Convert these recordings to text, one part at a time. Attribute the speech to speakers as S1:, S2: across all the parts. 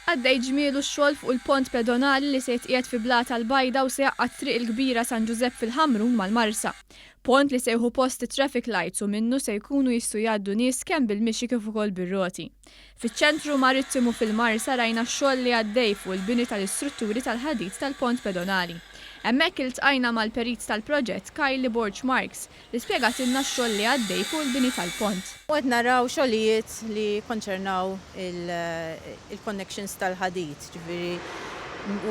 S1: Għaddej ġmielu x-xogħol fuq il-pont pedonali li se jitqiegħed fi Blata l-Bajda u se jgħaqqad t-Triq il-Kbira San Ġużepp fil-Ħamrun mal-Marsa. Pont li se jieħu post it-traffic lights u minnu se jkunu jistgħu jgħaddu nies kemm bil-mixi kif ukoll bir-roti. Fiċ-Ċentru Marittimu fil-Marsa rajna x-xogħol li għaddej fuq il-bini tal-istrutturi tal-ħadid tal-pont pedonali. Hemmhekk iltqajna mal-Perit tal-proġett Kylie Borg Marx li spjegatilna x-xogħol li għaddej fuq il-bini tal-pont. U qed naraw
S2: xogħlijiet li jikkonċernaw il-connections tal-ħadid, jiġifieri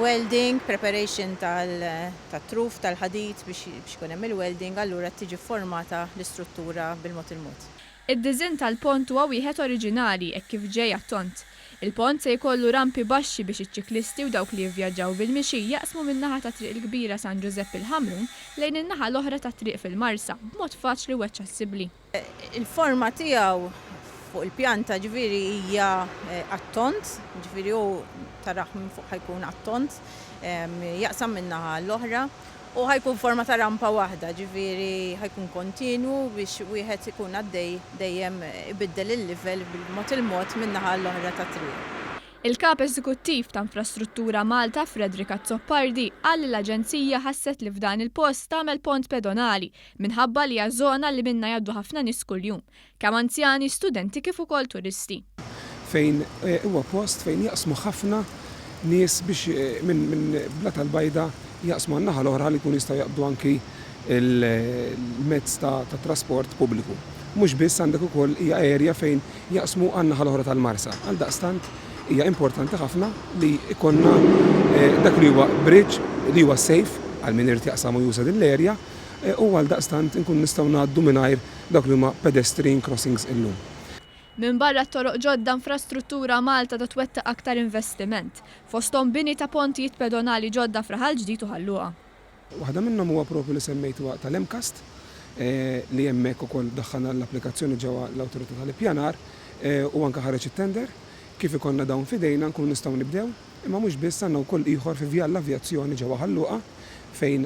S2: welding, preparation tat-truf tal-ħadid biex ikun hemm il-welding, allura tiġi fformata l-istruttura bil-mod il-mod. Id-diżinn tal-pont
S1: huwa wieħed oriġinali hekk kif ġej attont. Il-pont se jkollu rampi baxxi biex iċ-ċiklisti u dawk li jivvjaġġaw bil-mixi jaqsmu min-naħa tat-Triq il-Kbira San Ġużepp il-Ħamrun lejn in-naħa l-oħra tat-triq fil-Marsa b'mod faċli u aċċessibbli. Il-forma
S2: tiegħu fuq il-pjanta ġifieri hija għat-tond, ġifieri hu tarah minn fuq ħa jkun għat-tond, jaqsam min-naħa l-oħra U ħa jkun forma ta' rampa waħda, ġifieri ħa jkun kontinwu biex wieħed ikun għaddej dejjem ibiddel il-livell bil-mod il-mod minn naħa għal oħra tat-triq. Il-Kap
S1: Eżekuttiv ta' Infrastruttura Malta, Frederick Azzopardi, qal li l-Aġenzija ħasset li f'dan il-post tagħmel pont pedonali minħabba li hija żona li minnha jgħaddu ħafna nies kuljum. kemm anzjani, studenti kif ukoll turisti. Fejn
S3: huwa post fejn jaqsmu ħafna nies biex minn minn Blat Albajda jaqsmu għan-naħa l-oħra li jkunu jistgħu jaqbdu anki l-mezz ta' ta' trasport pubbliku. Mhux biss għandek ukoll hija area fejn jaqsmu għan-naħa l-oħra tal-Marsa. Għaldaqstant hija importanti ħafna li jkollna dak li huwa bridge li huwa safe għal min irid jaqsam u juża din l-area u għaldaqstant inkunu nistgħu ngħaddu mingħajr dawk li huma pedestrian crossings illum. Minbarra
S1: t-toroq ġodda infrastruttura Malta ta' twettaq aktar investiment, fosthom bini ta' pontijiet pedonali ġodda f'Raħal Ġdid u Ħal Luqa. Waħda minnhom
S3: huwa proprju li semmejtuha tal-MCAST li hemmhekk ukoll daħħalna l-applikazzjoni ġewwa l-Awtorità tal-Ippjanar u anke ħareġ it-tender. Kif ikollna dawn f'idejna nkunu nistgħu nibdew, imma mhux biss għandna wkoll ieħor fi Vjal l-Avjazzjoni ġewwa Ħal Luqa fejn,